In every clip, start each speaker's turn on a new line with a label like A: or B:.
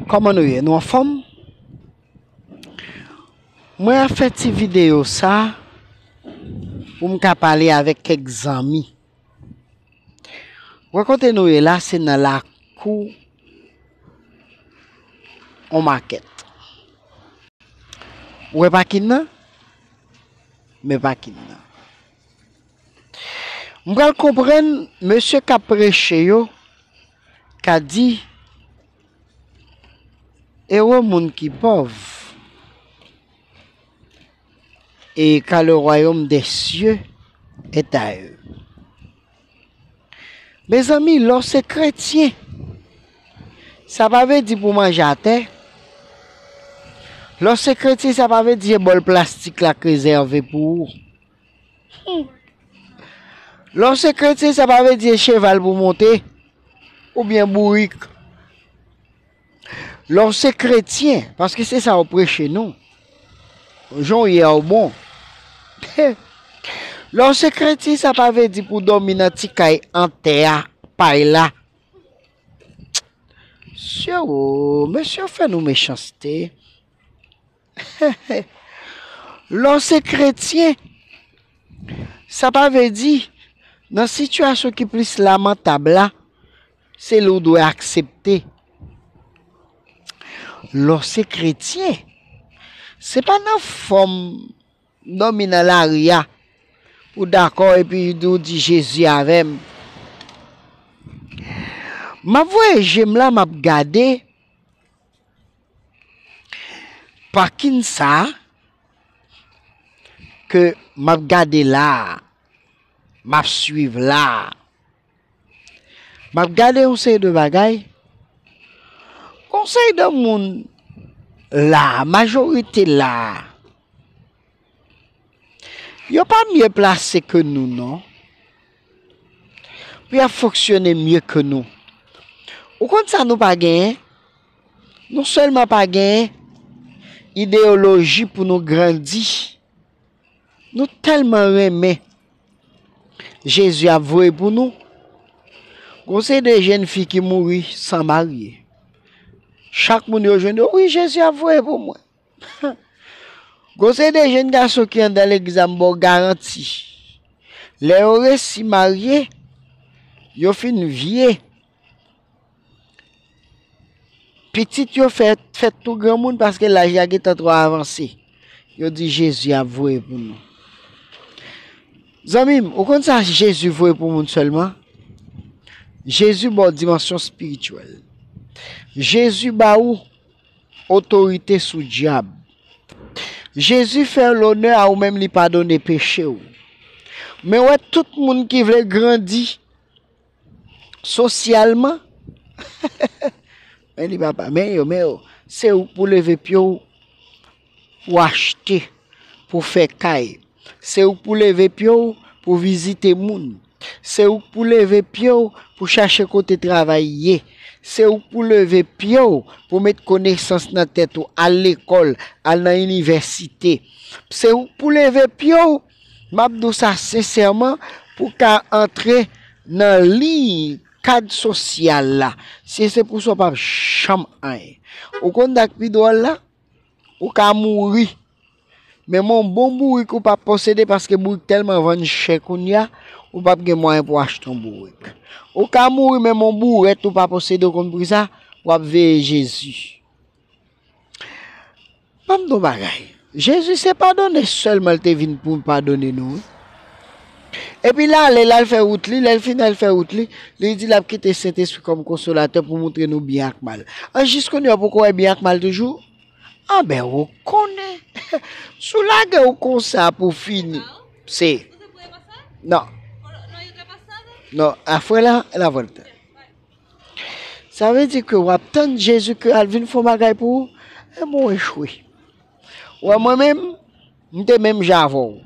A: Koman nou ye nou anfom Mwen ap fè ti video sa pou m ka pale avek kek zanmi wè kote nou ye la se nan lakou on makèt ou wè pakin nan men pakin nan m pral konprann mesye kap preche yo Ka di, Ewo moun ki pòv, e ka le wayom dè sye et a eu. Mezanmi, lè w se kretyen, sa pa vle di pou manje atè. Lè w se kretyen, sa pa vle di se bòl plastik la k rezève pou ou. Lè w se kretyen sa pa vle di e cheval pou w monte oubyen bourik. Lè w se kretyen, paske se sa w preche nou, jan w ye a w bon. Lè w se kretyen sa pa vle di pou w dòmi nan ti kay an tè a, pay la. Sye woo, mesye yo fè nou mechanste. Lè w se kretyen, sa pa vle di nan sitiyasyon ki plis lamantab la, se li w dwe aksepte. Lè w se kretyen, se pa nan fòm dòmi nan lari a pou w dakò epi ou di Jezi avè m. M ap voye je m la, m ap gade. Parking sa ke map gade la, map swiv la, map gade yon seri de bagay, yon seri de moun la, majorite la, yo pa mye plase ke nou non. Pou y ap fonksyone mye ke nou. Ou konn sa nou pa genyen? Nou sèlman pa genyen ideyoloji pou nou grandi. Nou tèlman renmen Jezi ap voye pou nou. Gon se de jenn fi ki mouri san marye. Chak moun yo jwenn yo, wi Jezi ap voye pou mwen. Gon seri de jenn gason ki andan legliz la m baw garanti lè yo resi marye yo fin vye Pitit yo fèt, fèt tou granmoun paske laj la gen tan trò avanse. Yo di Jezi ap voye pou nou. Zanmim, ou konn sa Jezi voye pou moun sèlman? Jezi ba ou dimansyon spirityèl. Jezi ba ou Otorite sou dyab. Jezi fè lonè a ou menm li padone peche ou. Men wè tout moun ki vle grandi sosyalman men li pa pa men yo men yo se ou pou leve pye ou pou achte. pou fè kay. Se ou k pou leve pye w pou vizite moun. Se ou k pou leve pye w pou chache kote travay ye. Se ou k pou leve pye w pou met konesans nan tèt ou, al lekòl, al nan inivèsite. Se ou k pou leve pye w, m ap di w sa sensèman, pou w ka antre nan liy kad sosyal la. Si se pou sa w p ap janm anyen. Ou konn sa k pi dwòl la? Ou ka mouri. Men men yon bon bourik ou pa posede paske bourik tèlman vann chè kounya, ou pap gen mwayen pou achte yon bourik. Ou ka mouri men men yon bourèt ou pa posede ou konn pri sa, w ap veye Jezi. Ban m di w yon bagay, Jezi se padone sèlman l te vin pou l padone nou wi. Epi l ale, l al fè wout li, lè l fin al fè wout li, li di l ap kite Sentespri kòm konsolatè pou montre nou byen ak mal. An jis kounye a ou poko wè byen ak mal toujou? Anben ou konnen, si w lage w konsa pou w fini, se, nan, nan, a fue la, la vuelta. Sa vle di ke w ap tann Jezikri al vin fè yon bagay pou ou, e mwen echwe. Wè mwen menm, m te menm jan avè w.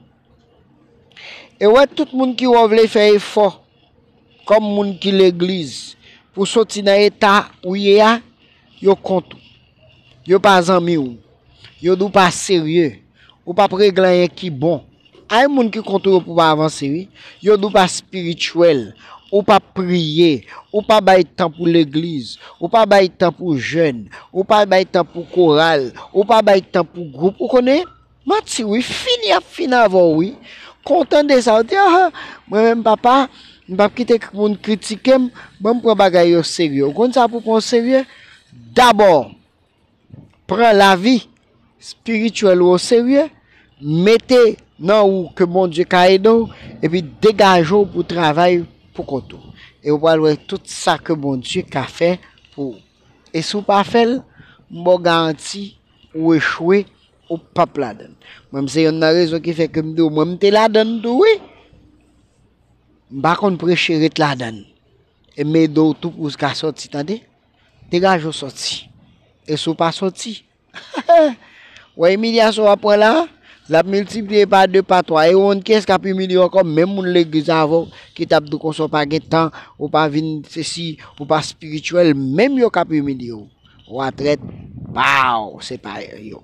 A: E wè tout moun ki wè w vle fè efò kòm moun ki legliz pou w soti nan eta ou ye a, yo kont ou. Yo pa zanmi w. Yo di w pa serye. Ou p ap regle anyen ki bon Ayy moun ki kont ou yo pou pa avanse wi, yo di w pa spirituel, ou pa priye, ou pa bay tan pou legliz, ou pa bay tan pou jèn, ou pa bay tan pou koral, ou pa bay tan pou gwoup ou konnen, manti wi, fini yap fini avè w wi, kontan de sa ou di ah mwen menm papa m pap kite moun kritike m, banm pran bagay yo serye, ou konn sa pou pran w serye, dabò pran lavi spirituel ou o serye, mete nan ou ke Bondye ka ede w, epi degaje w pou travay pou kont ou. E ou pral wè tout sa ke Bondye ka fè pou ou. E si w pa fè l, m ba w garanti ou echwe, ou pap ladan l. Mwen m se yonn nan rezon ki fè ke m di w mwen m te ladan l tou wi. M pa konn preche ret ladan l. E m ede w tou pou w ka sòti tande. Degage ou soti. E si w pa soti? Wè imilyasyon w ap pran la a? L ap miltipliye pa de, pa twa. E ou konn kiyès k ap imilye w ankò? Menm moun legliz avè w ki t ap di w konsa w pa gen tan, ou pa vin sesi, ou pa espirityèl, menm yo k ap imilye w. Ou a trèt, baww, se pa yo.